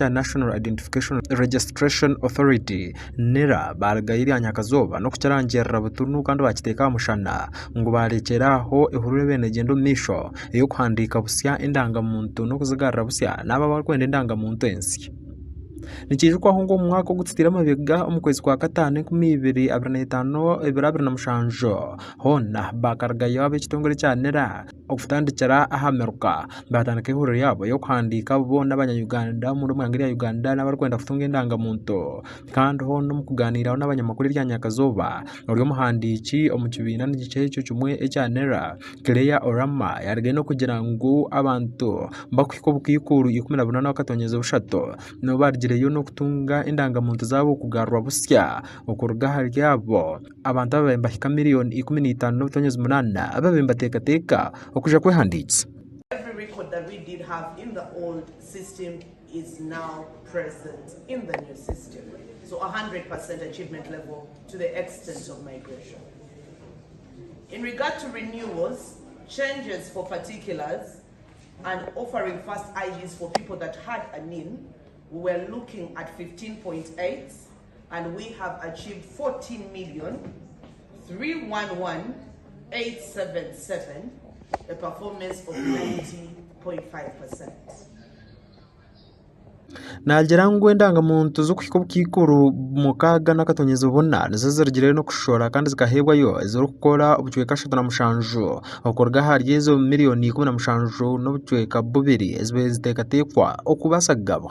ta National Identification Registration Authority, nira, baarugayo eryanyakazooba n'okukirangirira butunu kandi baakiteeka aha mushana ngu baarekyera aho ehurura ebaire neegyenda omu maisho ey'okuhandiika busya endangamuntu n'okuzigarura busya n'abo abarikwenda endangamuntu ensya. Nikiijukwahwo ngu omu mwaka ogu tutaire emabega omu kwezi kwa kataano enkumi ibiri abiri na itaano, ebiro abiri na mushanju, hoona baakarugayo ab'ekitongore kya nira, okutandikira aha miruka baatandika eihuriro ryabo ry'okuhandiika abo boona abanya Uganda omuri omu ihanga erya Uganda n'abarikwenda kutunga endangamuntu kandi hoona omu kugaaniiraho n'abanyamakuru erya nyakazooba ori omuhandiiki omu kibiina nikyo ekyo kimwe ekya NERA Claire Orama yarugayo n'okugira ngu abantu bakuhika obukaikuru ikumi na bunaana bakatongyeza bushatu nibo baarugireyo n'okutunga endangamuntu zaabo kugarurwa busya okuruga ahari abo. Abantu ababaire nibahika miriyoni ikumi na itaano n'obutonyazi munaana ababaire nibateekateeka okuza kwehandiisa. and we have achieved 14,311,877 a performance of 90.5 percent. Naagira ngu endangamuntu z'okuhika obukaikuru mukaaga n'akatonyezo buna nizo zirugire n'okushora kandi zikaheebwayo ezirikukora obucweka ashatu na mushanju okuruga ahari ezo miriyoni ikumi na mushanju n'obucweka bubiri ezibaire ziteekateekwa okubaasa kugabwa.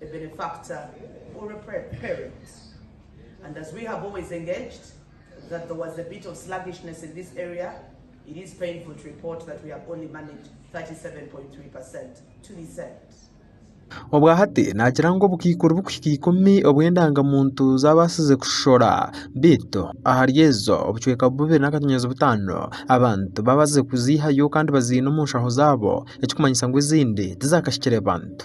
the benefactor or a parent and as we have always engaged that there was a bit of sluggishness in this area it is painful to report that we have only managed 37.3 per cent to be sent. Obwa hati nakira ngu obukaikuru bukuhika ikumi obw'endangamuntu z'abaasize kushora beitu ahari ezo obucweka bubiri n'akatonyazo butaano abantu baabazize kuziihayo kandi baziine omu nshaho zaabo ekirikumanyisa ngu ezindi tizaakahikire bantu.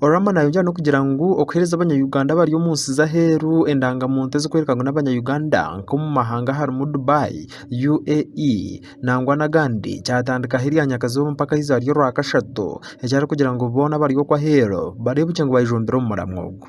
Orama nayongyera n'okugira ngu okuhereza abanya-Uganda abari omu nsi z'aheeru endangamuntu ezirikworeka ngu n'abanya-Uganda nk'omu mahanga harimu Dubai, UAE nangwa n'agandi kyatandikaho erya nyakazooba mpaka aha izooba ry'orwakashatu eki arikugira ngu boona abari okwo aheeru bareebukye ngu baijumbire omuramwa ogwo.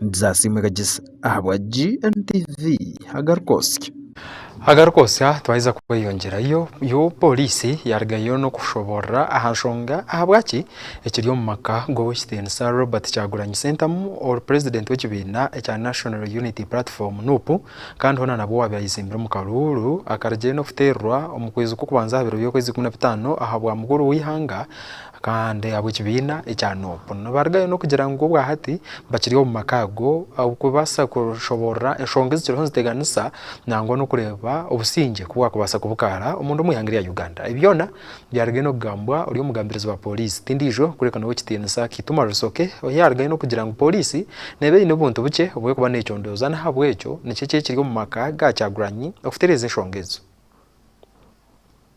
Nzasiima Kagyesa ahabwa GNTV Agarikosya. Agarikosya Twaheza kweyongyerayo, Poliisi yarugayo n'okushoboorora aha nshonga ahabwaki ekiri omu maka g'ow'ekitiinisa Robert Kyagulanyi Sentamu ori purezidenti w'ekibiina ekya National Unity Platform, nup, kandi hoona nabwo owaabaire ayezimbire omu karuuru akarugiire n'okuteerwa omu kwezi kw'okubanza aha biro by'okwezi ikumi na bitaano ahabwa mukuru w'eihanga, Kandi ab'ekibiina ekya Nup nibarugayo n'okugira ngu obwahati bakiri omu maka ago kubaasa kushoboorora enshonga ezikiriho niziteganisa nangwa n'okureeba obusingye ku bwakubaasa kubukaara omunda omu ihanga erya Uganda. Ebi byona byarugayo n'okugambwa ori omugambirizi wa pooriisi tindiijo kureka n'owa ekitiinisa Kituma Rusoke ohi yaarugayo n'okugira ngu pooriisi neeba eine obuntu bukye obu erikuba neecondooza n'ahabw'ekyo nikyo ki ekiri omu maka ga Kyagulanyi okutereeza enshonga ezo.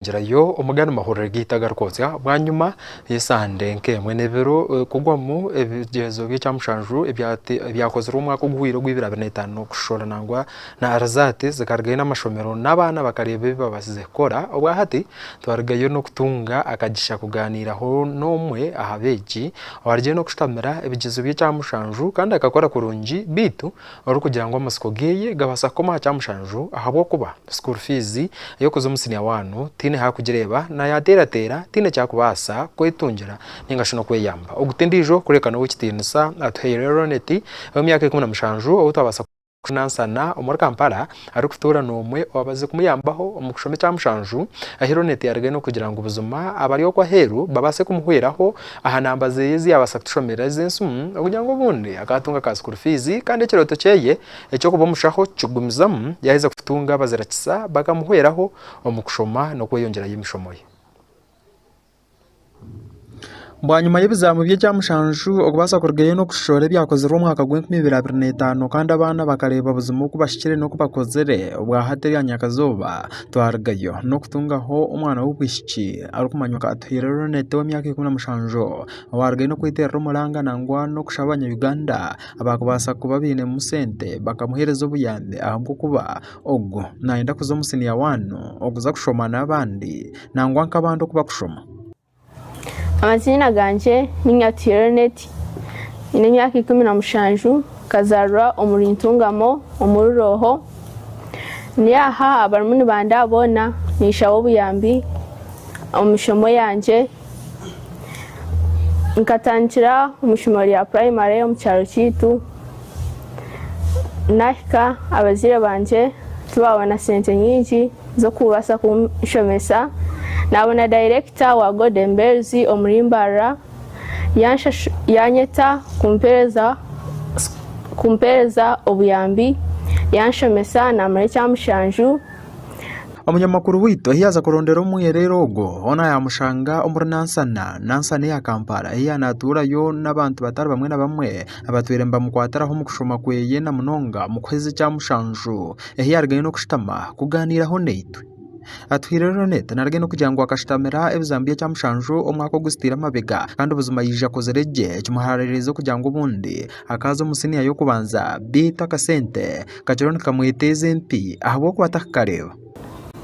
Girayo omugane mahurire gaitu agarikwotsya. Bwanyima y'esande nk'emwe n'ebiro kugwamu ebigyezo by'ekyamushanju ebyakozirwe omwaka oguhwire ogwa ibiri abiri na etaano, Kushushoora nangwa na Arzate zikarugayo n'amashomero n'abaana bakareeba ebi babaasize kukora. Obwahati twarugayo n'okutunga akagisha kugaaniiraho n'omwe aha beegi owarugiire n'okushutamira ebigyezo by'ekyamushanju kandi akakora kurungi beitu Orikugira ngu amatsiko geye gabaasa kukoma aha kyamushanju ahabw'okuba school fees y'okuza omu senior one tiine hakugireeba na yateerateera tiine kyakubaasa kwetungira ninga shi n'okweyamba. Ogu t'endiijo kureka n'ow'ekitiinisa Atuhaire Roneti ow'emyaka ikumi na mushanju ou twabaasa kunansana omuri Kampala arikutuura n'omwe owaabaasize kumuyambaho omu kushoma ekya mushanju ahi Ronette yarugaine okugira ngu buzima abari okwo aheeru babaase kumuhweraho aha namba ze ezi yaabaasa kutushomerera ez'ensimu okugira ngu obundi akaatunga ka sukuuru fiizi kandi ekirooto kye eky'okuba omushaho kukigumizamu yaaheza kutunga abazirakisa bakamuhweraho omu kushoma n'okweyongyerayo emishomo ye. Bwanyima y'ebizamu by'ekya mushanju, okubaasa kurugayo n'okushohora ebyakozirwe omu mwaka gwa enkumi ibiri abiri na etano kandi abaana bakareeba buzima oku bashikire n'oku bakozire, obwa hati erya nyakazooba twarugayo n'okutungaho omwana w'obwishiki arikumanywa nka Atuhaire Ronette ow'emyaka ikumi na mushanju owarugayo n'okweterera omuranga nangwa n'okushaba abanya Uganda abakubaasa kuba bainemu sente bakamuhereza obuyambi ahabw'okuba Ogu nayenda kuza omu siniya wani okuza kushoma n'abandi nangwa nk'abandi oku bakushoma. Amaziina gangye ni Nyati Ereneti, nyine emyaka ikumi na mushanju, nkazaarirwa omuri Ntungamo omuri Rooho. Ndi aha abarimu nibandaha boona ninshaba obuyambi omu mishomo yangye. Nkatandikira omu ishomero rya purayimare omu kyaro kyaitu. Naahika abazaire bangye tibaabona sente nyingi z'okubaasa kunshomesa. Naabona dayirekita wa Golden Bells omuri Mbarara yaanyeta kumpeereza obuyambi, yaanshomesa naamara ekyamushanju. Omunyamakuru waitu ahi yaaza kurondera omwereere ogwo, hoona yaamushanga omuri Nansana. Nansana eya Kampala ei yaanaatuurayo n'abantu batari bamwe na bamwe. abatwire nibamukwatiraho omu kushoma kweye na munonga omu kuheza ekya mushanju ehi yaarugayo n'okushutama kugaaniiraho naitwe. Atuhaire rero n'eta naarugayo n'okugira ngu akashutamira ebizamu by'ekya mushanju omwaka oguzitiire emabega kandi buzima yaija akozire gye kimuhaaririize kugira ngu obundi akaaza omu siniya y'okubanza beitu akasente kakiriho nikamweteeza empi ahabw'okuba tarikukareeba.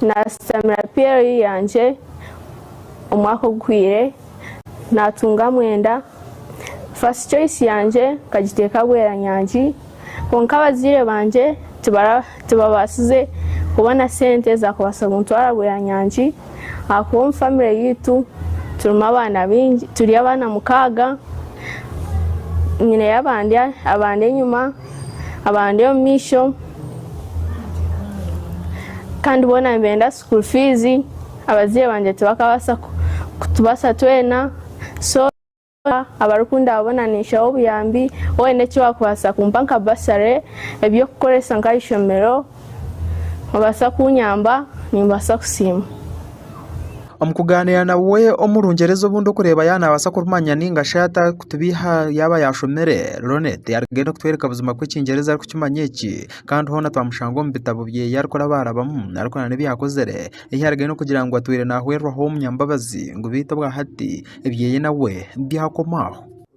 Naasitamira PLE yangye omwaka oguhweire naatunga mwenda. First choice yangye nkagiteeka Bweranyangi kwonka abazaire bangye tibabaasize kubona sente zaakubaasa kuntwara Bweranyangi ahakuba omu famire yaitu turimu abaana baingi turi abaana mukaaga, nyineyo abandi enyima. abandi omumaisho kandi boona nibenda school fees abaziire bangye tibakabasa kutubasa twena so abarikundaba boona ninshaho obuyambi waaba oyine ekiwakubasa kumpa nka bursary ebyokukoresa nkahaishomero. Noobaasa kunyamba? Nimbaasa kusiima. Omu kugaaniira nawe omu Rungyereza obundi okureeba yaaba naabaasa kurumanya nainga shi atarikutubeiha yaaba yaashomire. Ronette yaarugenda okutworeka buzima ku Ekingyereza arikukimanya eki, kandi hoona twamushanga omu bitabo bye ei arikurabaarabamu arikora n'ebi yaakozire. Ei yaarugire n'okugira ngu atwire naahwerwaho omunyambabazi ngu beitu obwahati ebyeye nawe byakoma aho.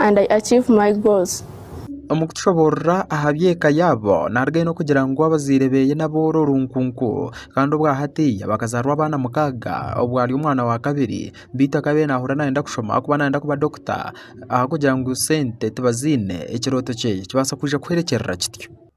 and I achieve my goals. Omu kutushoboorora aha by'eka yaabo, naaruga aine kugira ngu abazaire beeye n'aboora orunkunku kandi obwa hatiiya bakazaarwa abaana mukaaga obwo ari omwana wa kabiri beitu akabaire naahurira naayenda kushoma ahakuba naayenda kuba dokita ahakugira ngu sente tibaziine, ekirooto kyeye kibaasa kwija kuhwerekyerera kityo.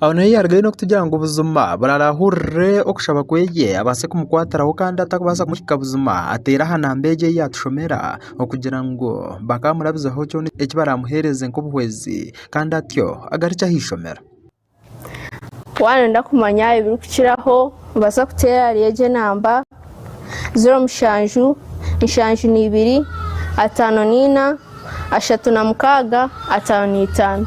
Aho niho yarugayo n'okutugira ngu buzima buraara ahurire okushaba kwe abaase kumukwatiraho kandi atakubaasa kumuhiga buzima ateere aha namba egi ei yaatushomera okugira ngu bakaamurabizaho kyona eki baraamuheereze nk'obuhwezi kandi atyo agarukye aha ishomero. Waayenda kumanya ebirikukiraho, nobaasa kuteera ahari egyo namba ziro mushanju, nshanju na ibiri, ataano na ina, ashatu na mukaaga, ataano na itaano.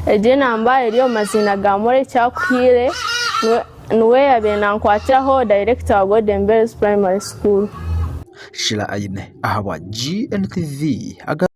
Egyo enamba eri omu maziina ga Moreki Akuhiire, niwe- niwe yaabaire nankwatiraho, dayirekita wa Golden Bells Primary School. Shila Aine ahabwa GNTV aga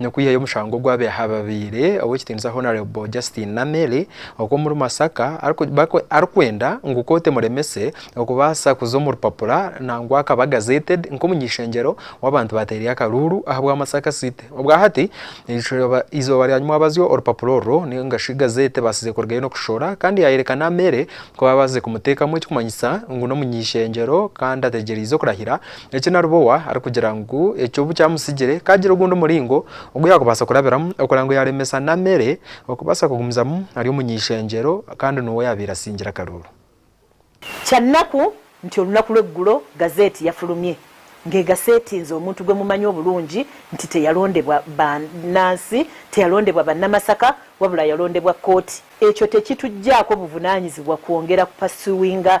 n'okwihayo omushango ogw'abahababaire ow'ekitiinisa Hon Justine Namere ow'omuri Masaka arikwenda ngu kooti emuremese okubaasa kuza omu rupapura nangwa akaba gazetted nk'omuny'eishengyero w'abantu baateire akaruuru ahabwa Masaka City. Obwahati eizooba rya nyima waabazyo orupapura orwo ninga shi gazeeti ebaasize kurugayo n'okurushora kandi yaayereka Namere ku baabaasize kumuteekamu ekikumanyisa ngu n'omuny'eishengyero kandi ategyereize okurahira Eki Naribowa arikugira ngu ekyo obu kyamusigire, ka agira ogundi muringo ogu yaakubaasa kurabiramu okugira ngu yaaremesa na mere okubaasa kugumizamu ari omu ny'ishengyero kandi n'owo yaabaire asingira akaruuru. Kya naku nti orunaku lw'egulo gazeeti yafurumye ngeega seetinze omuntu gwe mumanyi oburungi nti teyarondebwa ba nansi, teyarondebwa banamasaka wabula yarondebwa kooti. Ekyo tekitugyaako buvunanyizibwa kwongera kupasuwinga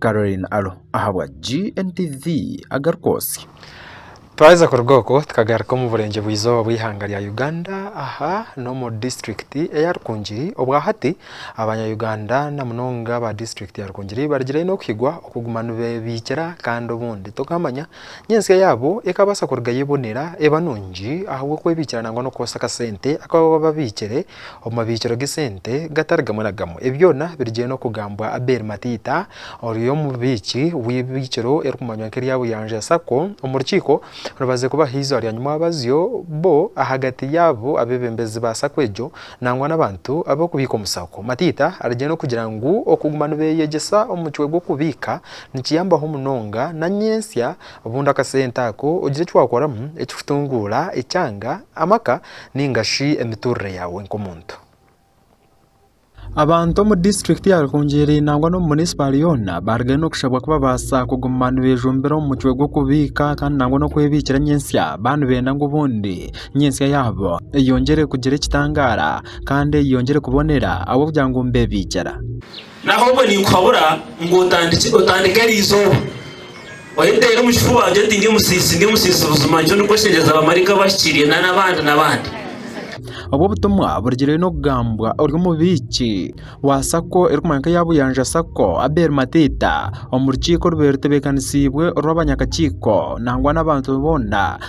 Caroline Alo ahabwa GNTV agarikwotsya. Twaheza kuruga okwo tukagaruka omu burengyerwa izooba bw'eihanga rya Uganda aha n'omu disiturikiti eya Rukungiri obwa hati abanya Uganda na munonga aba disiturikiti ya Rukungiri barigirayo n'okuhigwa okuguma nibebiikira kandi obundi tokamanya ngu ensya yaabo ekabaasa kurugayo ebonera eba nungi ahabw'okwebiikira nangwa n'okukoresa akasente aku baba babiikire Omu mabiikiro g'esente gatari gamwe na gamwe, ebi byona birigyenda n'okugambwa Abel Matiita ori omubiiki w'eibiikiro eririkumanywa nk'erya Buyanja Sacco omu rukiiko orubaziire kuba aha izooba rya nyumwabazyo bo ahagati y'abo abeebembezi ba sacco egyo nangwa n'abantu ab'okubiika omu sacco. Matiita arigyenda n'okugira ngu okuguma nibeeyegyesa omucwe gw'okubiika nikiyambaho munonga na nyentsya Bunda akasente ako ogire eki waakoramu ekikutunguura, ekyanga, amaka nainga shi emiturire yaawe nk'omuntu. Abantu omu disiturikiti ya Rukungiri nangwa n'omu munisipaari yoona baarugayo n'okushabwa ku babaasa kuguma nibejumbira omu mucwe gw'okubiika kandi nangwa n'okwebiikira nyentsya baaba nibenda ngu obundi nyentsya yaabo eyongyere kugira ekitangaara kandi eyongyere kubonera ahabw'okugira ngu nibebiikira. N'ahabw'obwe ninkuhabura ngu otandikye, otandike erizooba. Oriteera omu kifuba ogire oti, Ndi omusiisi, ndi omusiisi buzima, nikyo ndikukweshengyereza abamaraika abahikirire, na n'abandi, n'abandi. Obu obutumwa burugire n'okugambwa ori omubiiki wa sacco erikumanywa nka eya Buyanja sacco Abel Matiita omu rukiiko orubaire rutebeekanisiibwe orw'abanyakakiiko nangwa n'abantu boona,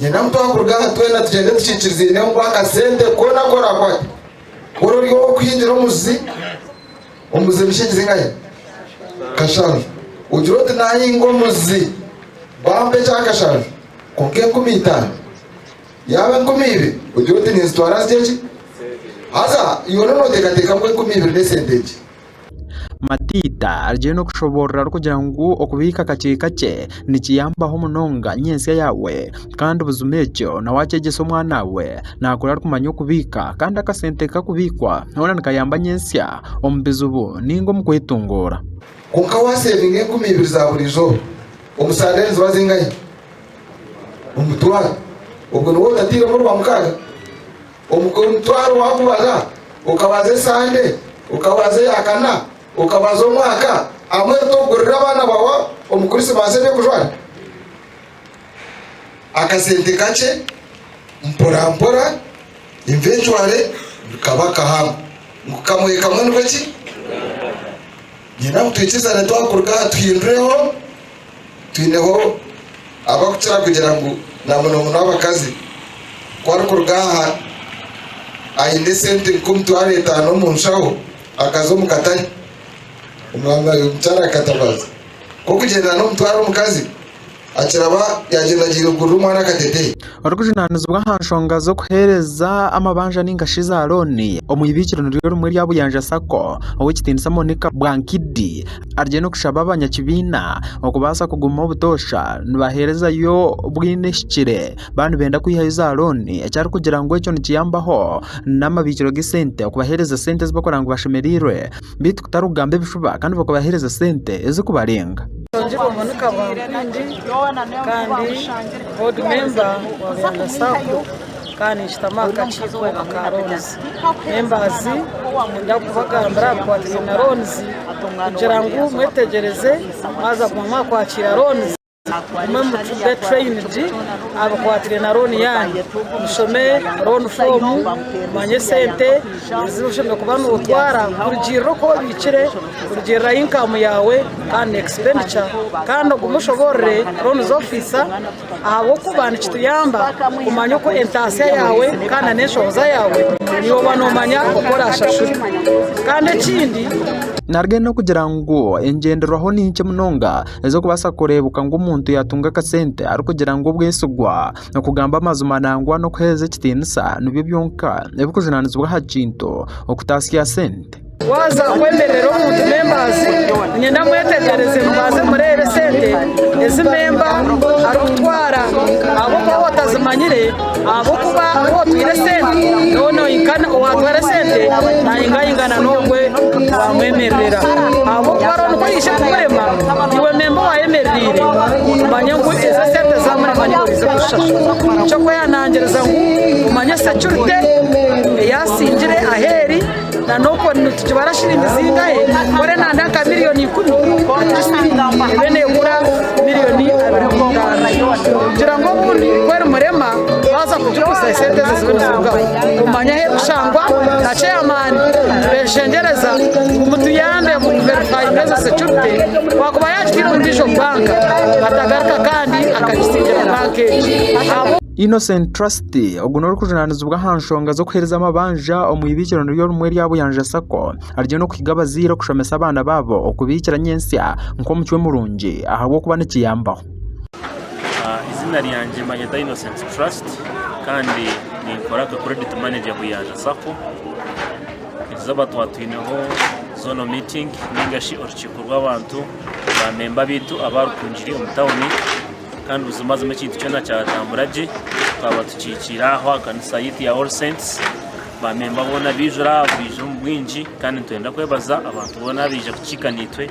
Nyena muto akuruga aha twena tugyende tukikirizaineho ngu akasente koona aku oraakwate kukora ori ow'okuhingira omuzi omuzi emishingi zingahe? Kashanju. Ogire oti, Naahinga omuzi bampa ekyakashanju kwonka enkumi itaano. Yaaba enkumi ibiri ogire oti, Ninzitwara nzigye ki? Haza yoona nooteekateeka ngu enkumi ibiri n'esente nkye. Matiita arugire n'okushoboorora arikugira ngu okubiika kakye kakye nikiyambaho munonga nyentsya yaawe kandi buzima ekyo na waakyegyesa omwanaawe naakura arikumanya okubiika kandi akasente kakubiikwa hoona nikayamba nyentsya omu bizibu nainga omu kwetunguura. Kwonka waaseevinga enkumi ibiri za buri izooba omu saara ezi ziba zingahi? Omutwaro. Obwo niwo otatairemu orwa mukaaga? Omutwaro wakubaza, okabaza esande, okabaza eyakana, okabaza omwaka hamwe tokugurira abaana bawe omu Krisimasi ebyokujwara? Akasente kakye mporampora eventwale nikaba kahamu ngu kamwe kamwe nikwo ki? Nyowe naaba twikiriza ngu twakuruga aha tuhindureho Twineho abakukira kugira ngu na muno muno abakazi ku arikuruga aha aine esente nk'omitwaro etaano omu nshaho akaza omu katare, omwami we omukyara akatabaaza ku okugyenda n'omutwaro omukazi akiraba yagyendagyeire kugurira omwana akateteeyi. orikujunaanizibwa aha nshonga z'okuheereza amabanja ninga shi za looni omu ibiikiro niryo rimwe erya Buyanja sacco ow'ekitiinisa Monica Bwankidi ariyo nikushaba abanyakibiina okubaasa kuguma obutoosha nibaheerezayo bwine ehikire baaba nibenda kwihayo za looni eki arikugira ngu ekyo nikiyambaho n'amabiikiro g'esente okubaheereza sente ezi barikugira ngu bashemereirwe. beitu kutari kugamba ebifuba kandi bakabahereza sente ezikubarenga. Oburungi bumwe ni kabwampiindi kandi board member wa Beyanda sacco kandi ninshitama aha kakiiko aka loans members niinyenda kubagambira aha bikwatiraine na loans kugira ngu mwetegyereze mwaza kuguma mwakwakiira loans. Mwe mucuze trained abakwatire na loan yanyu mushome loan form mumanye sente ezi oshemereire kuba notwara kurugiirira oku obiikire kurugiirira aha income yaawe kandi na expenditure kandi ogume oshoboorore loans officer ahabw'okuba nikituyamba kumanya oku entaasya yaawe kandi na n'enshohoza yaawe naiwe oba nomanya oku orashashure kandi ekindi. Naruga n'okugira ngu engyenderwaho ni nkye munonga Eze kubaasa kureebuka ngu omuntu yaatunga akasente arikugira ngu obwesigwa, okugamba amazima nangwa n'okuheereza ekitiinisa nibyo byonka ebirikujunaanizibwa aha kintu okutaasya sente. Waaza kwemerera omuntu membaazi, niinyenda mwetegereze mubaaze mureebe sente ezi memba arikutwara ahabw'okuba waaba otazimanyire. Ahabw'okuba ou otwire esente n'ou nohinkana, owaatwara esente naahingahingana n'ogwo owaamwemerera. Ahabw'okuba hariho nikwo yaija kukurema, iwe memba owaayemereire, omanye ngu ezo esente zaamurema niiwe oriija kuzishashura. Nikyo kwehanangiriza ngu omanye securite eyaasingire aheeri. Nanokwo nitukibara shilingi zingahe? Kore nanda nka million ikumi ebe negura million abiri kwonka kugira ngu obundi kweri murema baza kugiguza esente ezo zibe nizirugaho omanya ahu erikushangwa na chairman nibeshengyereza ngu mutuyambe mu ku verifyinga ezo security wakuba yagitaire omu digital bank atagaruka kandi akagisingire bank egi. Innocent Trust ogu n'orikujunaanizibwa aha nshonga z'okuheereza amabanja omu iramizo rimwe erya Buyanja Sacco ariyo naakwiga abazaire kushomesa abaana baabo okubaikira nyentsya nk'omucwe murungi ahabw'okuba nikiyambaho Eiziina ryangye banyeta Innocent Trust kandi ninkora nka credit manager Buyanja Sacco eizooba twatwineho zoona miitingi nigashi orukiiko rw'abantu ba memba baitu abarukungire omu tauni Kandi buzimazima ekintu kyona kyatambura gye, twaba tukihikiire aho aha kanisa yaitu ya All Saints. Baamemba boona baijura aha, baija omu bwingi. Kandi nitwenda kwebaza abantu boona abaija kukiika naitwe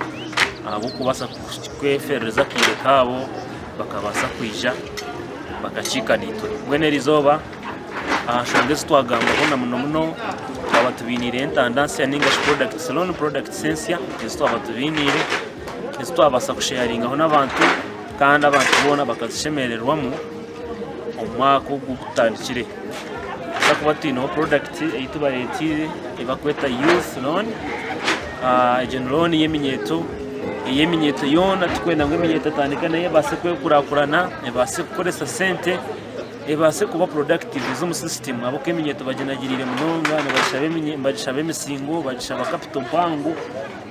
ahabw'okubaasa kweferereza akaire kaabo bakabaasa kwija bakakiika naitwe. Mbwenu eri izooba aha nshonga ezi twagambaho na muno muno twaba tubainiire entanda nsya nainga shi products, loan products ensya ezi twaba tubainiire, ezi twabaasa kusheyaringaho n'abantu. kandi abantu boona bakazishemererwamu omu mwaka ogu gutandikire tubaasa kuba twineho purodakiti ei tubareeteire ei barikweta yuufu rooni, egyo ni rooni y'eminyeeto, ey'eminyeeto yoona turikwenda ngu eminyeeto etandike nayo ebaase kwekurakurana ebaase kukoresa sente ebaase kuba purodakiti z'omu sisitimu ahabw'okuba eminyeeto baginagiriire munonga nibagishaba emisingo bagishaba kapito mpango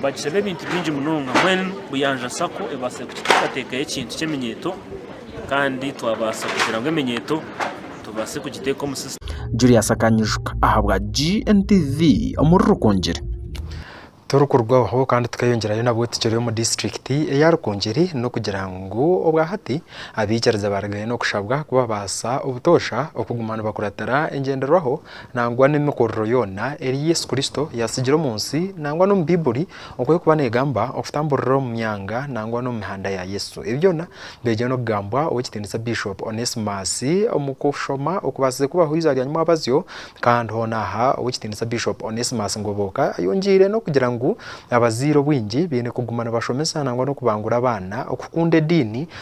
Bagishaba ebintu bingi munonga mbwenu Buyanja Sacco ebaasire kututeekateekaho ekintu ky'eminyeeto kandi twabaasa kugira ngu eminyeeto tubaase kugiteeka omu sisitimu. Julius akanyijuka ahabwa GNTV omuri Rukungiri. Turikurwaho kandi tukeyongyerayo nabwo tukiri omu disiturikiti eya Rukungiri n'okugira ngu obwa hati abaikiriza barigayo n'okushabwa kubabaasa obutoosha okuguma nibakuratira engyenderwaho nangwa n'emikorero yoona eri Yesu Kristo yaasigire omu nsi nangwa n'omu Baibuli oku erikuba neegamba okutamburira omu myanga nangwa n'omu mihanda ya Yesu. Ebi byona byaija n'okugambwa Ow'ekitiinisa Bishop Onesmus omu kushoma okubaasize kubaho eizooba rya nyimwabazyo kandi hoona aha Ow'ekitiinisa Bishop Onesmus Ngoboka ayongiire n'okugira ngu abazaire obwingi baine kuguma nibashomesa nangwa n'okubangura abaana okukunda ediini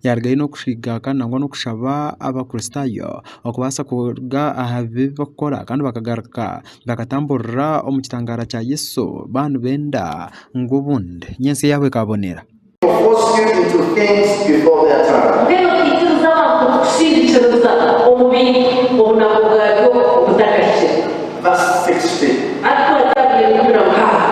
Yarugayo n'okushwigaga nangwa n'okushaba Abakristaayo okubaasa kuruga aha bibi ebi barikukora kandi bakagaruka bakatamburira omu kitangaara kya Yesu baaba nibenda ngu obundi ni ensi yaabo ekaabonera. Mbwenu okaikiriza abantu kukushingikiriza omu bintu obunaku bwabyo butakahikire? Arikukwata aha bintu bira mukaaga.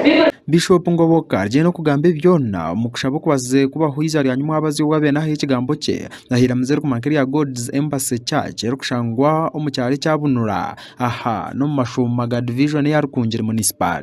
Bibiri. Bishop Ngoboka arye nokugamba ebi byona omu kushaba okubaze kubaho iza rya Nyu Mwabazi owa bene ahayo ekigambo kye aha iramizo erikuma nka erya God's Embassy Church erikushangwa omu kyaro ekya Bunura aha n'omu mashuuma ga Division eya Rukungiri Municipal.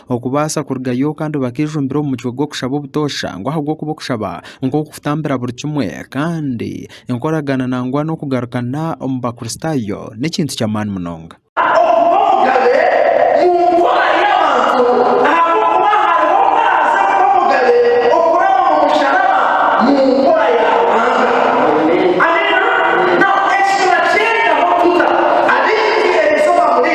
okubaasa kurugayo kandi bakaijumbira omu mucwe gw'okushaba obutoosha ngu ahabw'okuba okushaba nk'oku kutambira buri kimwe kandi enkoragana nangwa n'okugarukana omu Bakristaayo n'ekintu ky'amaani munonga. Okuba omugabe mu nkora y'abantu ahabw'okuba hariho ku araaze kuba omugabe okuraba omu musharaba mu nkora ya Ruhanga. Amina. Now, eki turakyegaho tuta? Abaingi eri izooba muri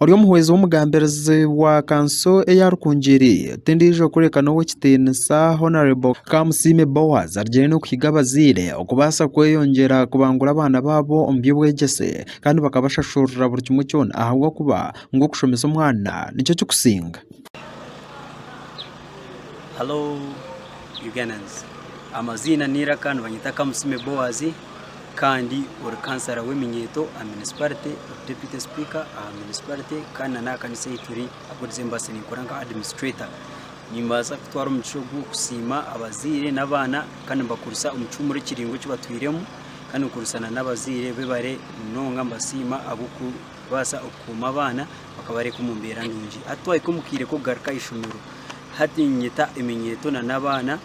Ori omuhwezi w'omugambirizi wa kanso eya Rukungiri tindiijo kureka n'ow'ekitiinisa Hon Kamusiime Boaz arugire n'okuhiga abazaire okubaasa kweyongyera kubangura abaana baabo omu by'obwegyese kandi bakabashashurira buri kimwe kyona ahabw'okuba ngu okushomesa omwana nikyo kikusinga. kandi ori kansara w'eminyeeto aha munisiparite, ori deputy speaker aha munisiparite kandi na n'aha kanisa ei turi ahu turi mbaasa ninkora nka administrator. Nimbaasa kutwara omugisha ogu kusiima abazaire n'abaana kandi mbakurisa omu kihumure kiraingwa eki batwiremu kandi nkurisa na n'abazaire bibare munonga mbasiima ahabw'okubaasa okukuuma abaana bakabareeka omu mbeera nungi. Hati twahika omu kaire k'okugaruka aha ishomero, hati niinyeta eminyeeto na n'abaana.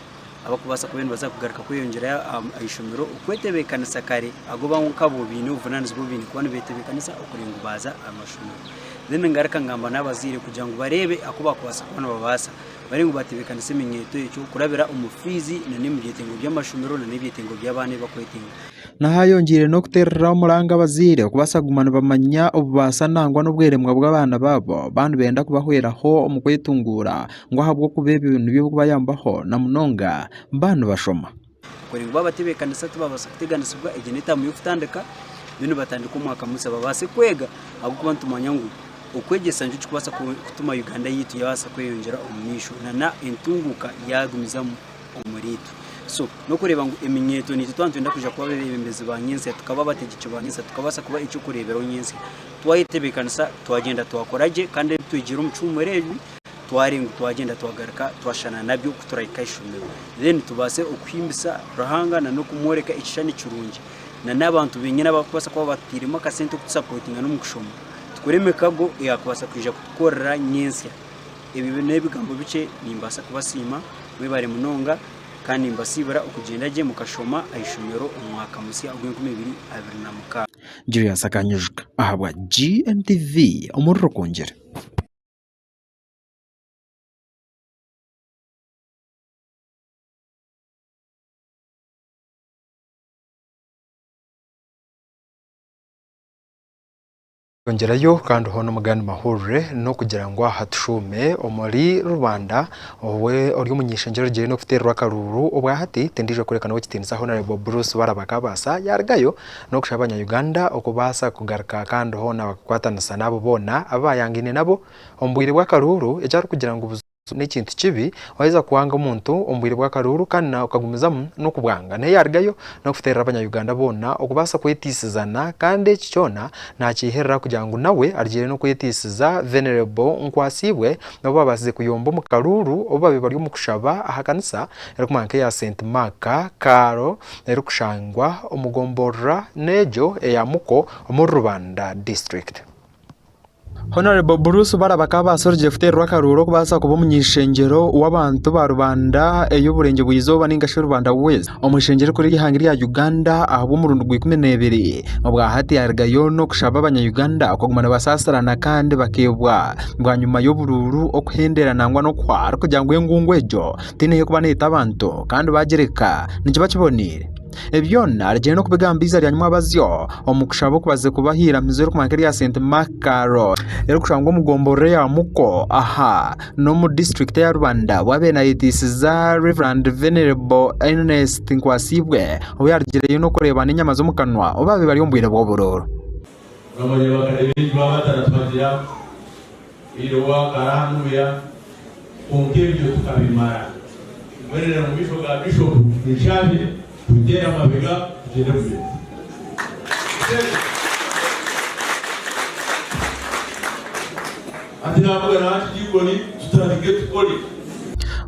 abarikubaasa kuba nibaza kugaruka kweyongyera aha ishomero okwetebeekanisa kare agoba nkabo baine obuvunaanizibwa obu baine kuba nibetebeekanisa okureeba ngu baaza aha mashomero then ngaruka ngamba n'abazaire kugira ngu bareebe aku baakubaasa kuba nibabaasa bari ngu batebeekanise eminyeeto egyo kurabira omu fiizi na n'omu byetengo by'amashomero na n'ebyetengo by'abaana ebi bakwetenga Naha hayongiire n'okuteerera omuranga abazaire okubaasa kuguma nibamanya obubaasa nangwa n'obweremwa bw'abaana baabo baaba nibenda kubahweraho omu kwetunguura ngu ahabw'okuba ebyo nibyo bikubayambaho na munonga baba nibashoma. Kuri ngu baaba tibeekanisa tibabaasa kuteganisibwa, egyo n'etaamu y'okutandika, beitu nibatandika omwaka musya babaase kwega ahabw'okuba nitumanya ngu okwegyesa nikyo kikubaasa kutuma Uganda yaitu yabaasa kweyongyera omu maisho nana entunguuka yaagumizamu omuriitwe. So n'okureeba ngu eminyeeto niitwe twaba nitwenda kwija kuba abeebembezi ba nyentsya, tukaba abategyeki ba nyentsya, tukabaasa kuba eky'okureeberaho nyentsya, twayetebeekanisa, twagyenda twakora gye kandi ebi twegire omu kihuumuro ebi, twari ngu twagyenda twagaruka twashushana nabyo ku turahika aha ishomero then tubaase okuhimbisa Ruhanga na n'okumworeka ekishushani kirungi na n'abantu benyine abakubaasa kuba batutairemu akasente okutusapotinga n'omu kushoma tukore emikago eyakubaasa kwija kutukorera nyentsya. Ebyo n'ebigambo bikye nimbaasa kubasiima mwebare munonga kandi nimbasiibira okugyenda gye mukashoma aha ishomero omu mwaka musya ogw'enkumi ibiri abiri na mukaaga. Julius akanyijuka ahabwa GMTV omuri Rukungiri. Twongyerayo kandi hoona omugani mahurire n'okugira ngu aha tushuume omuri rubanda owe ori omu nyeshengyero orugire n'okuteererwa akaruuru obwa hati tindiija kworeka nawe ekitiinisa Hon Bruce Baraba Kabaasa yaarigayo n'okushaba abanya-Uganda okubaasa kugaruka kandi hoona bakakwatanisa n'abo boona abu baayangaine nabo omu bwire bw'akaruuru, eki arikugira ngu buzamu n'ekintu kibi waaheza kwanga omuntu omu bwire bw'akaruuru kandi nawe okagumizamu n'okubwanga. Naye yaarugayo n'okuteerera abanya-Uganda boona okubaasa kweteisizana kandi eki kyona naakyeherera kugira ngu nawe arugiire n'okweteisiza Venerable Nkwasiibwe obu baabaasize kuyomba omu karuuru obu baabaire bari omu kushaba aha kanisa erikumanywa nk'eya Saint Mark Kaaro erikushangwa omu gomborora n'egyo eya Muko omuri Rubanda district. Honourable Bruce Bara bakaba baasorogyire kuteererwa akaruuru okubaasa kuba omuny'eishengyero w'abantu ba Rubanda ey'oburengye bw'eizooba ninga shi Rubanda West omu eishengyero erikuru ery'eihanga erya Uganda ahabw'omurundi gwa ikumi n'ebiri obwa hati yaruga yoona okushaba abanya Uganda okuguma nibasaasirana kandi bakeebwa bwanyima y'oburuuru okuhendera nangwa n'okuhwa kugira ngu engungu egyo tihaine orikuba neeta abantu kandi baagireka nikiba kiboneire. Ebi byona arigyenda n'okubigamba eiza rya Nyamwabazyo omu kushaba oku baze kubaha eiramizo ririkukira nk'erya St Makar erikushangwa omu gombolola eya Muko aha n'omu disiturikiti eya Rubanda obu abaire naayetiisiza Rev. Venerable Ernest Nkwasiibwe ou yaarugireyo n'okureeba n'enyama z'omu kanwa obu baabaire bari omu bwire bw'oburuuru. Iroha akaranumya kwonka ebyo tukabimara. Mbwenu reero omu maisho ga Bishopu nshabire tuteere amabega tugyende Bulemeezi. Mushebe. Hati naavuga na Archdeacon tutandike tukore.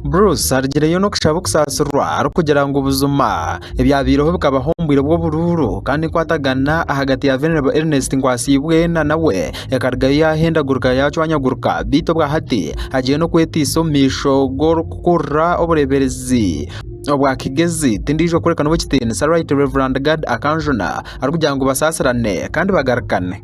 Bruce arugireyo n'okushaba okusaasirwa arikugira ngu buzima ebyabaireho bikabaho omu bwire bw'oburuuru kandi enkwatagana ahagati ya Venerable Ernest Nkwasiibwe na nawe ekarugayo yaahendagurika yaacwanyaguruka beitu obwahati agiire n'okwetaisa omu maisho g'orikukurira obureeberezi obwa Kigezi tindiijo kureka n'ow'ekitiinisa Rt Rev Gad Akanjuna arikugira ngu basaasirane kandi bagarukane.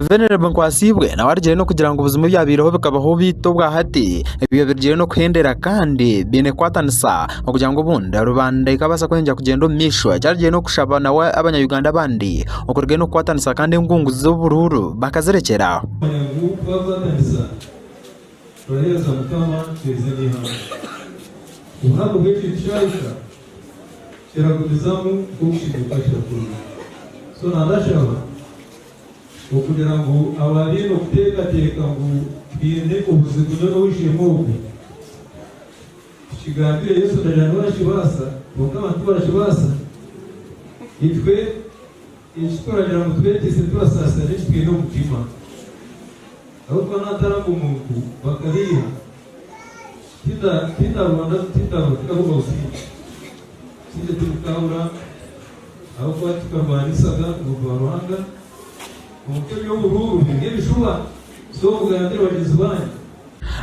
Venerable Nkwasiibwe nawe arugire n'okugira ngu buzima ebyabaireho bikabaho beitu obwa hati ebyo birugire n'okuhendera kandi biine kukwatanisa okugira ngu obundi rubanda ekabaasa kweyongyera kugyenda omu maisho eki arugire n'okushaba nawe abanya Uganda abandi okurugire n'okukwatanisa kandi engungu z'oburuuru bakazirekyera aho. Turaheereza Mukama twaize n'eihanga. Obuhango bw'ekyo kishaahisha kiragumizamu nk'okushinguuka kirakurura. So na ndashaba okugira ngu abaabaine okuteekateeka ngu twine obuzibu nyowe n'ow'eishe-emwe ogu, tukigambire Yesu ndagira niwe arakibaasa, kwonka abantu tibarakibaasa, itwe. Eki turagira ngu tureeteise turasaasira n'eki twine omu mutima. Ahabw'okuba naataraga omuntu bakabeiha, tinda tindarwanda tindarwa tindarumba busingye. Busingye tibukaabura ahabw'okuba tikarwanisaga omuntu wa Ruhanga. Kwonka eby'oburuuru biri nk'ebishuba, so mugambire bagyenzi baanyu.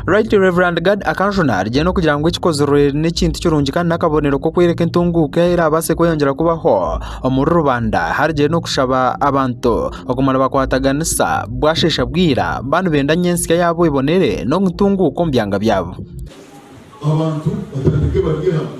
Right Rev. Gad Akanjuna arigye n'okugira ngu ekikozirwe n'ekintu kirungi kandi n'akabonero k'okworeka entunguuka ei eraabaase kweyongyera kubaho omuri rubanda harigye n'okushaba abantu okuguma nibakwataganisa bwasheesha bwira baaba nibenda ngu ensya yaabo ebonere n'okutunguuka omu byanga byabo. Abantu batandike barye hamwe.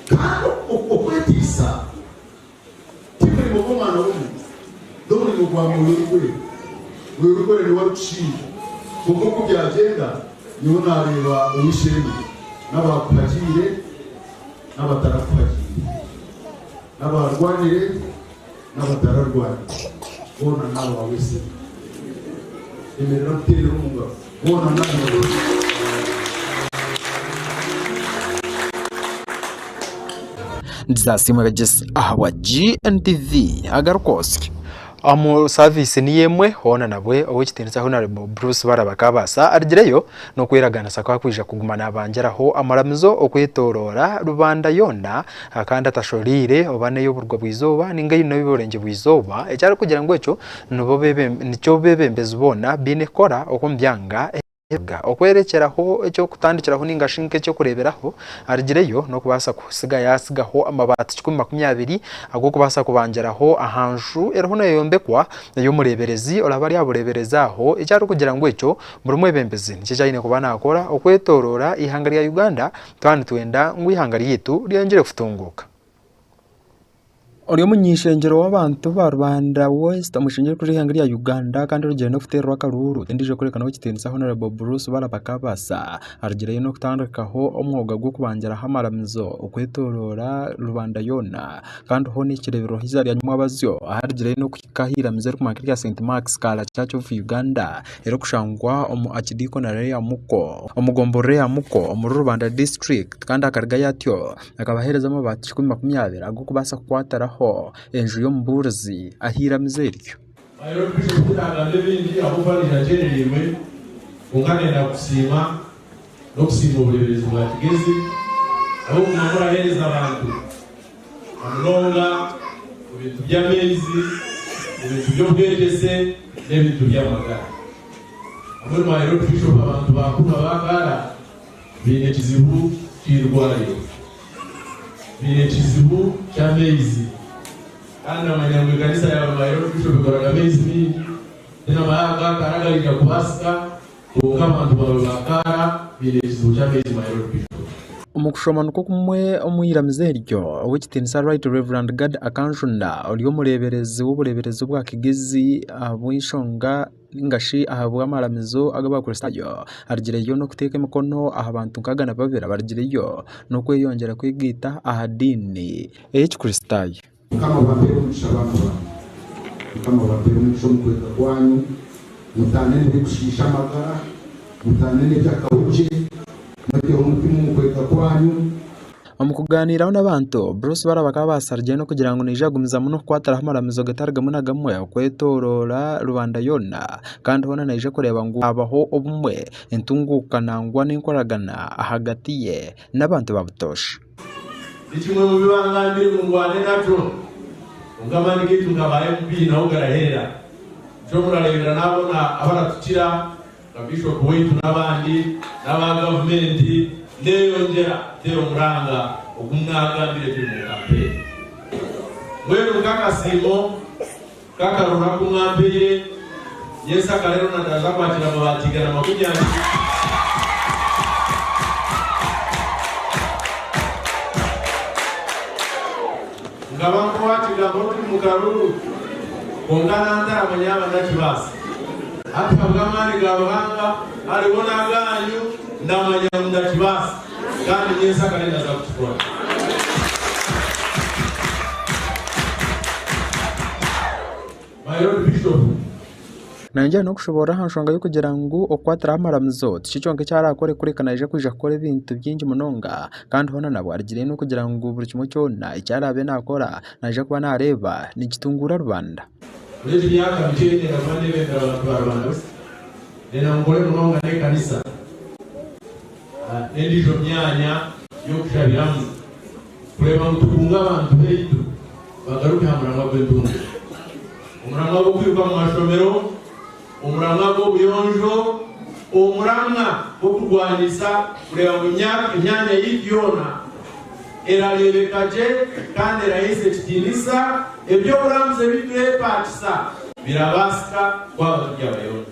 Kandi okwetiisa ti murimo gw'omwana w'omuntu, n'omurimo gwa Mwoyo Orikwera. Mwoyo Orikwera niwe arikushinja, kwonka oku byagyenda, nyowe naareeba ow'eishe-emwe, n'abaakuhagiire n'abatarakuhagiire, n'abaarwanire, N'abatararwari boona naawe waabesera. Emerera kuteerera omu ngaro boona naawe waabesera. Jesus asiimwe abegyesa ahabwa GNTV Agarukoosya. Omu saaviisi niyo emwe, hoona nabwe Ow'ekitiinisa Hon Bruce Bara bakaabaasa, arigireyo n'okweraganisa ku arikwija kuguma naabangyeraho amaramizo okwetooroora rubanda yoona, Akandi atashoreire oba n'ey'oburwa bw'eizooba ninga eine ey'oburengye bw'eizooba, eki arikugira ngu ekyo nibo nikyo beebembezi boona baine kukora omu byanga ebiraga. Okworekyeraho eky'okutandikiraho ninga shi nk'eky'okureeberaho, arugireyo n'okubaasa kusiga yaatsigaho amabaati kikumi makumi abiri ag'okubaasa kubangiraho aha nju eriho neeyombekwa ey'omureeberezi oraabe ari aha bureeberezi aho, eki arikugira ngu ekyo buri mwebembezi nikyo eki aine kuba naakora okwetooroora eihanga rya Uganda Twaba nitwenda ngu eihanga ryaitu ryeyongyere kutunguuka, omunyeshengyero w'abantu ba rubanda West omushengye kuriha eihanga rya Uganda kandi orugire n'okuteerwa akaruuru endiijo kworeka nobu kitiinisa Hon Bruce Barabakabasa arugireyo n'okutandikaho omwoga gw'okubangiraho amaramizo okwetooroora rubanda yoona kandi hoona ekireeberwaho eiziina rya Nyamwabazyo aharugireyo n'okuhika aha iramizo erikukira erya St Marks Kaalacha Church of Uganda. erikushangwa omu akidikonare ya Muko omu gomborora eya Muko omuri Rubanda disiturikiti kandi akarigayo atyo akabahereza amabaati kikumi makumi abiri ag'okubaasa kukwatiraho enju y'omubuurizi ahu iramizo eryo. n'okusiima obureeberezi bwa Kigezi ahabw'okuguma muraheereza abantu na munonga omu bintu by'amaizi, omu bintu by'obwegyese n'ebintu by'amagara. Hamwe mwaheera Orubishopu abantu ba Kuma ba Kaara baine ekizibu ky'eirwariro, baine ekizibu ky'amaizi kandi namanya ngu ekanisa yaaba mwaheera Orubishopu ekoraga amaizi maingi, tinabaha aga Kaara agaraija kubaasika. Kwonka abantu bamwe ba Kaara baine ekizibu ky'ameezi ma York Bishop. Omu kushoma nikwo kumwe omu iramizo eryo, Ow'ekitiinisa Right Rev. Gad Akanjunda ori omureeberezi w'obureeberezi obwa Kigezi ahabw'enshonga nainga shi ahabw'amaramizo ag'Abakristaayo, arigireyo n'okuteeka emikono aha bantu nkaaga na babiri abarigireyo n'okweyongyera kwegaita aha diini ey'Ekikristaayo. Mukama abampere omugisha baana bange. Mukama abampere omugisha omu kwega kwanyu, mutaane n'ebirikushiisha amagara, mutaane n'ebyakahukye, mweteho omutima omu kwega kwanyu. Omu kugaaniiraho n'abantu, Bruce Barra bakaba baasharire n'okugira ngu naija kugumiza muno kukwatiraho amaramizo gatari gamwe na gamwe okwetooroora rubanda yoona kandi hoona naija kureeba ngu haabaho obumwe, entunguuka nangwa n'enkoragana ahagati ye n'abantu ba Butosha. Ni kimwe mu bi bangambire ngu ndwane nakyo. Kwonka amaani gaitu nk'aba MP naho garaherera. Nikyo murareebera naabona abaratukira nka Bishop waitu n'abandi n'aba gavumenti neeyongyera kuteera omuranga ogu mwaagambire turi mu kampeyini. Mbwenu nk'akasiimo. Ka karora ku mwampaire. Yesu akareero nadaaza akwatire amabaati igana makumi abiri. Nkaba nkukwatira nk'orikuri mu karuru, kwonka nantarama yaaba ndakibaasa. Hati habw'amaani ga Ruhanga ariho n'agaanyu, ndamanya ngu ndakibaasa. Kandi nyentsya akaba ari ndaza kukikora. My Lord Bishop. Naagira n'okushoboorora aha nshonga y'okugira ngu okukwatiraho amaramizo tikyo kyonka eki araakore kureka naija kwija kukora ebintu bingi munonga kandi hoona nabwo arigirire n'okugira ngu buri kimwe kyona eki araabe naakora naija kuba naareeba nikitunguura rubanda. Muri egi myaka mikye ndenda kuba ndeebembera abantu ba Rubanda busa. Ndenda ngu nkore munonga n'ekanisa. n'endiijo myanya y'okushabiramu kureeba ngu tukunga abantu baitu bagaruke aha muramwa gw'entunguka, omuramwa gw'okwiruka omu mashomero, omuramwa gw'obuyonjo, omuramwa gw'okurwanisa kureeba ngu emyanya yaitu yoona erareebeka gye kandi eraheisa ekitiinisa, eby'oburambuzi ebi tureepaakisa birabaasika twaba turi abayonjo.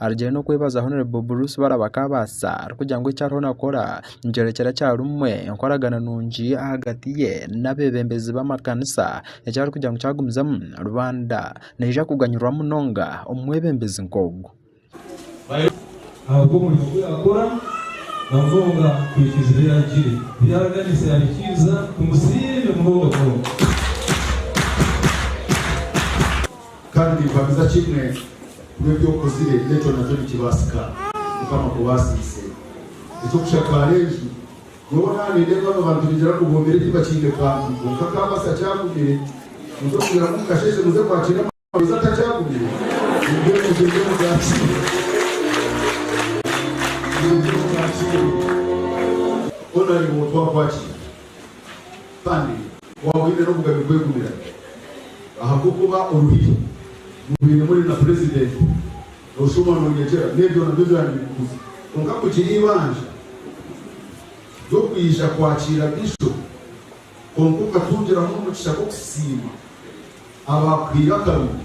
Arugire n'okwebaza Hon Bruce Barabakabaasa arikugira ngu eki ariho nakora nikyorekyera kyarumwe enkoragana nungi ahagati ye n'abebembezi b'amakanisa eki arikugira ngu kyagumizamu rubanda neija kuganyirwa munonga omumwebembezi nk'ogu. ahabw'omurimo ogu yakora namunonga kuhikiiriza ebi yaragire ebi yaraganisa yabihikiiriza tumusiime munonga munonga. Kandi ninkuhamiza kimwe ngu ebi okozire n'ekyo nakyo nikibaasika Mukama akubaasiise. Eky'okushakaara enju, nyowe naaba nindeeba aba bantu nigira ngu bombire tibakiine kantu kwonka kaabaasa kyagumire, muze kugira ngu mukasheeshe muze kwakiine amarozi atakyagumire, mumbwenu mugyende mugakiine. Mugyende mugakiine. Honorable Otwakwakire. Kandi waaba oine n'obugabe kwegumira ahabw'okuba oruhire mubaire muri na purezidenti noshuma nonyegyera n'ebyo nabyo byaba nibikuguza. Kwonka kugira eibanja ry'okwija kwakiira Bishop kwonka okatungiramu omugisha gw'okusiima abaakuhaire akarungi.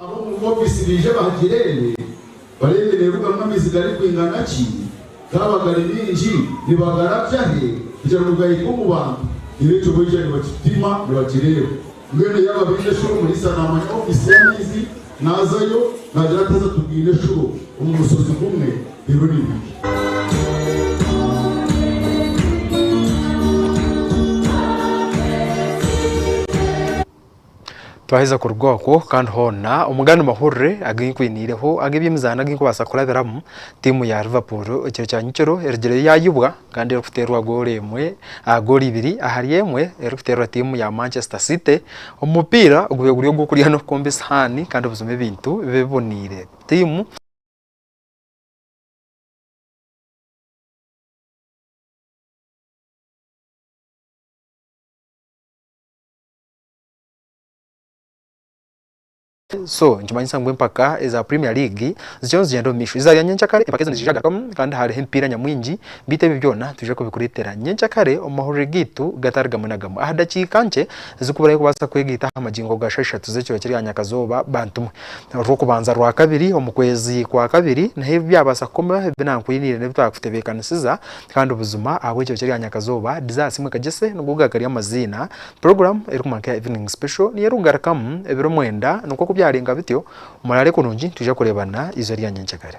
Ab'omu ofiisi baije bahagireebe bareebe neerugamu amaizi garikwingana ki, gaaba gari maingi nibagara atya he kugira ngu gahike omu bantu, reero ekyo baija nibakipima nibakireeba. Mbwenu yaaba baine eshuro omuriisa naamanya ofiisi y'amaizi naazayo naagira ati haza tubwine eshuro omu mushozi gumwe reero ni bibi. Twaheza kuruga okwo kandi hoona omu gandi mahurire agu nkwiniireho ag'eby'emizaano agu nkubaasa kurabiramu, tiimu ya Liverpool ekiro kya nyekiro erigireyo yaayubwa kandi erikuteerwa goolo emwe aha goolo ibiri ahari emwe erikuteerwa tiimu ya Manchester City omu mupiira ogube guri ogw'okurya n'okukomba esihaani kandi buzima ebintu bibe biboneire tiimu So nikimanyisa ngu empaka eza Premier League zikiriyo nizigyenda omu maisho. Eza nyenkyakare empaka ezo niziija kugarukamu kandi hariho emipiira nyamwingi beitu ebyo byona nitwija kubikureetera nyenkyakare omu mahurire gaitu gatari gamwe na gamwe. Aha dakiika nkye ezirikuburayo kubaasa kwegaita aha magingo ga shaaha ishatu z'ekiro kiri aha nyakazooba bantumwe. Orw'okubanza rwa kabiri omu kwezi kwa kabiri niho ebi byabaasa kukomaho ebi naakwiniire n'ebi twaakutebeekanisiza Kandi buzima ahabw'ekyokye rya nyakazooba, dizaasi imwe kagyese nigo gakari amaziina. Puroguramu erikumanka eya Evening Special niyo erikugarukamu ebiro mwenda, nikwo ku byarenga bityo, muraare kurungi nitwija kureebana izooba rya nyenkyakare.